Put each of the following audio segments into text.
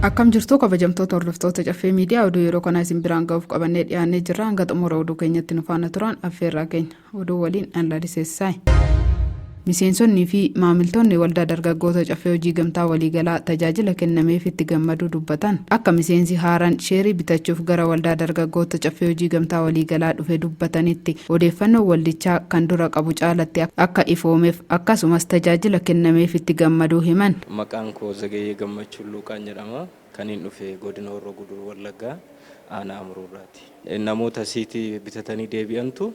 akkam jirtu kabajamtoota hordoftoota caffee miidiyaa oduu yeroo kanaa isin biraan ga'uuf qabannee dhiyaannee jirra hanga xumura oduu keenyatti nu faana turan affeerraa keenya. Oduu waliin Alla Disessaay. Miseensonnii fi maamiltoonni waldaa dargaggoota caffee hojii gamtaa waliigalaa tajaajila kennameef itti gammaduu dubbatan. Akka miseensi haaraan sheerii bitachuuf gara waldaa dargaggoota caffee hojii gamtaa waliigalaa dhufe dubbatanitti odeeffannoon waldichaa kan dura qabu caalatti akka ifoomeef akkasumas tajaajila kennameef itti gammaduu himan. Maqaan koo Zagayee Gammachuu Luuqaan jedhama. Kaniin dhufe Godina Horroo Guduruu Wallaggaa Aanaa Amuruu irraati. Namoota asiiti bitatanii deebi'antu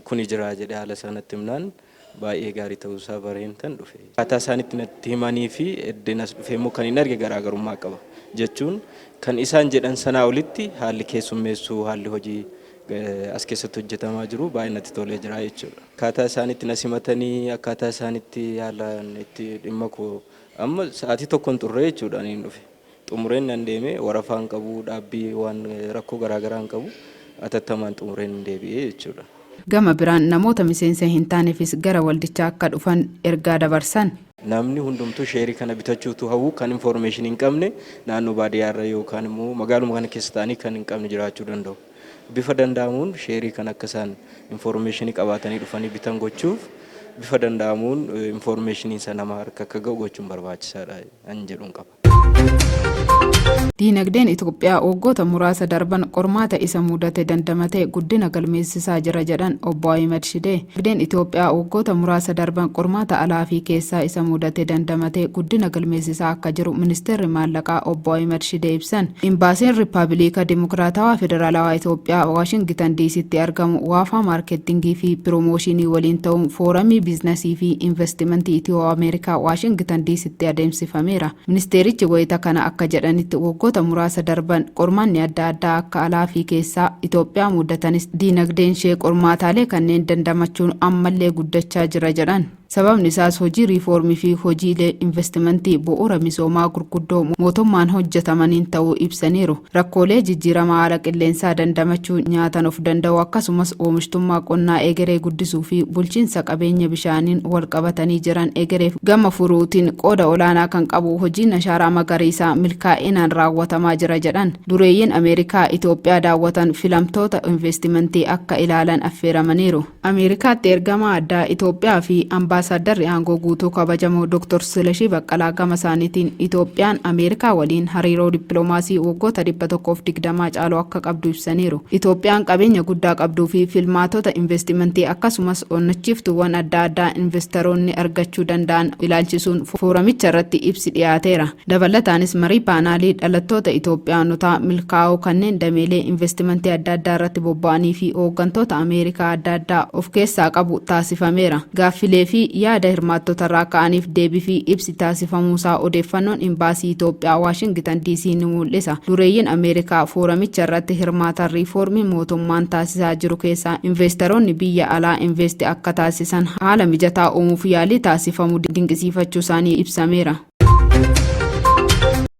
kuni jira jedhee haala isaa natti himnaan baay'ee gaarii ta'uu isaa bareen tan dhufe. Akkaataa isaan itti natti himanii fi eddeen as dhufee immoo kan hin arge garaagarummaa qaba. Jechuun kan isaan jedhan sanaa olitti haalli keessummeessuu, haalli hojii as keessatti hojjetamaa jiru baay'ee natti tolee jira jechuudha. Akkaataa isaan itti na simatanii, akkaataa isaan itti haalaan itti dhimma koo Amma sa'aatii tokko hin xurree jechuudha aniin dhufe. Xumureen nan deeme warafaa hin qabu dhaabbii waan rakkoo garaagaraa hin qabu atattamaan xumureen hin deebi'ee jechuudha. Gama biraan namoota miseensa hin taanefis gara waldichaa akka dhufan ergaa dabarsan. Namni hundumtuu sheerii kana bitachuu utuu hawwuu kan information hin qabne naannoo baadiyyaarra yookaan immoo magaaluma kana keessa ta'anii kan hin qabne jiraachuu danda'u. Bifa danda'amuun sheerii kana akka isaan infoormeeshinii qabaatanii dhufanii bitan gochuuf bifa danda'amuun infoormeeshiniin isaa nama harka akka ga'u gochuun barbaachisaadha an jedhuun qaba. Diinagdeen Itoophiyaa waggoota muraasa darban qormaata isa mudate dandamatee guddina galmeessisaa jira jedhan Obbo Ahimad Shidee. Dinagdeen Itoophiyaa waggoota muraasa darban qormaata alaa fi keessaa isa mudate dandamatee guddina galmeessisaa akka jiru Ministeerri Maallaqaa Obbo Ahimad Shidee ibsan. Imbaasiin Rippabiliika Dimokiraatawaa Federaalawaa Itoophiyaa Waashingitan Diisiitti argamu Waafaa Maarkettingii fi Piroomooshinii waliin ta'uun Fooramii Biiznasii fi Invastimantii Itiyoo-Ameerikaa Waashingitan Diisitti adeemsifameera. Ministeerichi wayita kana akka jedhanitti, waggoota muraasa darban qormaanni adda addaa akka alaafi keessaa Itoophiyaa muudatanis diinagdeenshee qormaataalee kanneen dandamachuun ammallee guddachaa jira jedhan. Sababni isaas hojii riifoormiifi hojiilee invastimantii bu'uura misoomaa gurguddoo mootummaan hojjetamaniin ta'uu ibsaniiru. Rakkoolee jijjiirama haala qilleensaa dandamachuu, nyaatan of danda'uu akkasumas oomishtummaa qonnaa egeree guddisuu fi bulchiinsa qabeenya bishaaniin walqabatanii jiran egereef gama furuutiin qooda olaanaa kan qabu hojiin Ashaaraa Magariisaa milkaa'inaan raawwatamaa jira jedhan. Dureeyyiin Ameerikaa Itoophiyaa daawwatan filamtoota inveestimantii akka ilaalan affeeramaniiru. Ameerikaatti ergamaa addaa Itoophiyaa fi Ambaasaaddarri aangoo guutuu kabajamoo Dr. Silashii Baqqalaa gama isaaniitiin Itoophiyaan Ameerikaa waliin hariiroo dippiloomaasii waggoota 120 caalu akka qabdu ibsaniiru. Itoophiyaan qabeenya guddaa qabduu fi filmaatota investimentii akkasumas onnachiiftuuwwan adda addaa investaroonni argachuu danda'an ilaalchisuun fooramicharratti ibsi dhiyaateera. Dabalataanis marii paanaalii dhalattoota Itoophiyaanotaa milkaa'oo kanneen dameelee investimantii adda addaa irratti bobba'anii fi hooggantoota Ameerikaa adda addaa of keessaa qabu taasifameera. Gaaffilee fi yaada hirmaattotarraa ka'aniif deebii fi ibsi taasifamuusaa odeeffannoon Imbaasii Itoophiyaa Waashingitan DC ni muul'isa. Dureeyyiin Ameerikaa fooramicha irratti hirmaatan riifoormii mootummaan taasisaa jiru keessaa inveestaroonni biyya alaa investi akka taasisan haala mijataa uumuuf yaalii taasifamu dinqisiifachuusaanii ibsameera.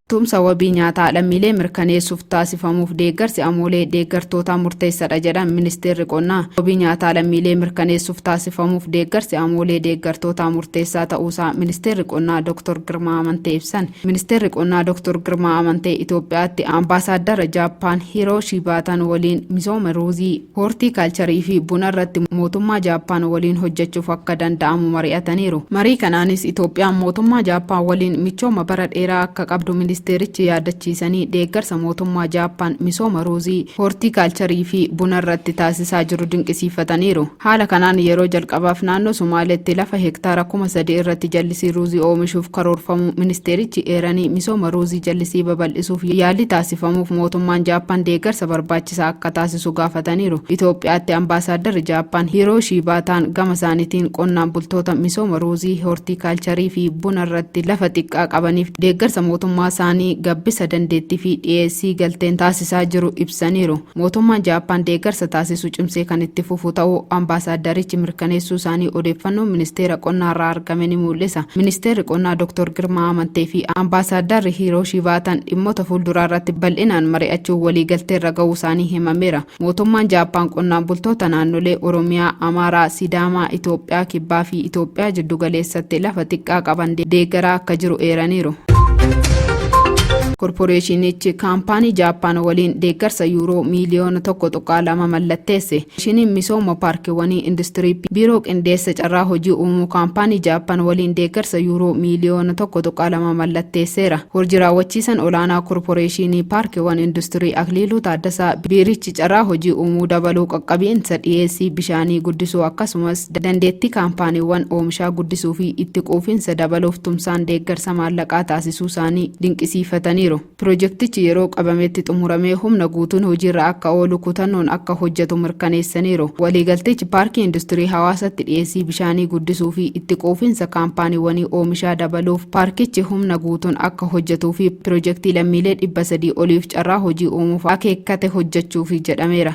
tumsa wabii nyaataa lammiilee mirkaneessuuf taasifamuuf deeggarsi amoolee deeggartootaa murteessadha jedhan ministeerri qonnaa wabii nyaataa lammiilee mirkaneessuuf taasifamuuf deeggarsi amoolee deeggartootaa murteessaa ta'uusaa ministeerri qonnaa dr girmaa amantee ibsan ministeerri qonnaa dr girmaa amantee itoophiyaatti ambaasaaddara jaappaan hiroo shiibaatan waliin misooma ruuzii Hoortii kaalcharii fi buna irratti mootummaa Jaappaan waliin hojjechuuf akka danda'amu mari'ataniiru. Marii kanaanis Itoophiyaan mootummaa Jaappaan waliin michooma bara dheeraa akka qabdu ministeerichi yaadachiisanii, deeggarsa mootummaa Jaappaan misooma ruuzii, hoortii kaalcharii fi buna irratti taasisaa jiru dinqisiifataniiru. Haala kanaan yeroo jalqabaaf naannoo Sumaaleetti lafa hektaara kuma sadii irratti jallisii ruuzii oomishuuf karoorfamuu ministeerichi eeranii, misooma ruuzii jallisii babal'isuuf yaalli taasifamuuf mootummaan Jaappaan deeggarsa barbaachisaa taasisaa jira jedhan. barbaachisaa akka taasisu gaafataniiru. Itoophiyaatti Ambaasaaddarri Jaappaan Hiirooshii Baataan gama isaaniitiin qonnaan bultoota misooma ruuzii, hoortiikaalcharii fi buna irratti lafa xiqqaa qabaniif deeggarsa mootummaa isaanii gabbisa dandeettii fi dhiyeessii galteen taasisaa jiru ibsaniiru. Mootummaan Jaappaan deeggarsa taasisu cimsee kan itti fufu ta'uu Ambaasaaddarichi mirkaneessuu isaanii odeeffannoon Ministeera Qonnaarraa argame ni muul'isa. Ministeerri Qonnaa Dr. Girmaa Amantee fi Ambaasaaddarri Hiirooshii Vaataan dhimmoota fuulduraarratti bal'inaan mari'achuun waliigalteerra ga'uusaanii himameera. Mootummaan Jaappaan qonnaan bultoota naannolee Oromiyaa, Amaaraa, Sidaamaa, Itoophiyaa Kibbaa fi Itoophiyaa Jiddugaleessatti lafa xiqqaa qaban deeggaraa akka jiru eeraniiru. Korporeeshinichi kaampaanii Jaappaan waliin deeggarsa Yuuroo miiliyoona 1.2 mallatteesse. Komishiniin Misooma Paarkiwwanii Industirii Biiroo Qindeessa Carraa Hojii Uumuu Kaampaanii Jaappan waliin deeggarsa Yuuroo miiliyoona 1.2 mallatteesseera. Hojii raawwachiisan olaanaa Korporeeshiinii Paarkiwwan Industirii Akliiluu Taaddasaa biirichi carraa hojii uumuu dabaluu, qaqqabiinsa dhiyeessii bishaanii guddisuu akkasumas dandeettii kaampaaniiwwan oomishaa guddisuu fi itti quufinsa dabaluuf tumsaan deeggarsa maallaqaa taasisuusaanii dinqisiifataniiru. Pirojektichi yeroo qabametti xumuramee humna guutuun hojiirra akka oolu kutannoon akka hojjetu mirkaneessaniiru. Waliigaltichi Paarkii Industirii Hawaasatti dhiyeessii bishaanii guddisuu fi itti quufinsa kaampaaniiwwanii oomishaa dabaluuf paarkichi humna guutuun akka hojjetuu fi pirojektii lammiilee 300 oliif carraa hojii uumuuf akeekkate hojjechuufi jedhameera.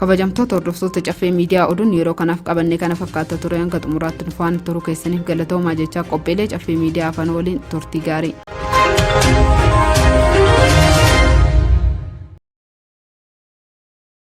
Kabajamtoota hordoftoota Caffee Miidiyaa oduun yeroo kanaaf qabanne kana fakkaata ture hanga xumuraatti nu faana turuu keessaniif galatoomaa jechaa qophiilee Caffee Miidiyaa afaan waliin turtii gaarii.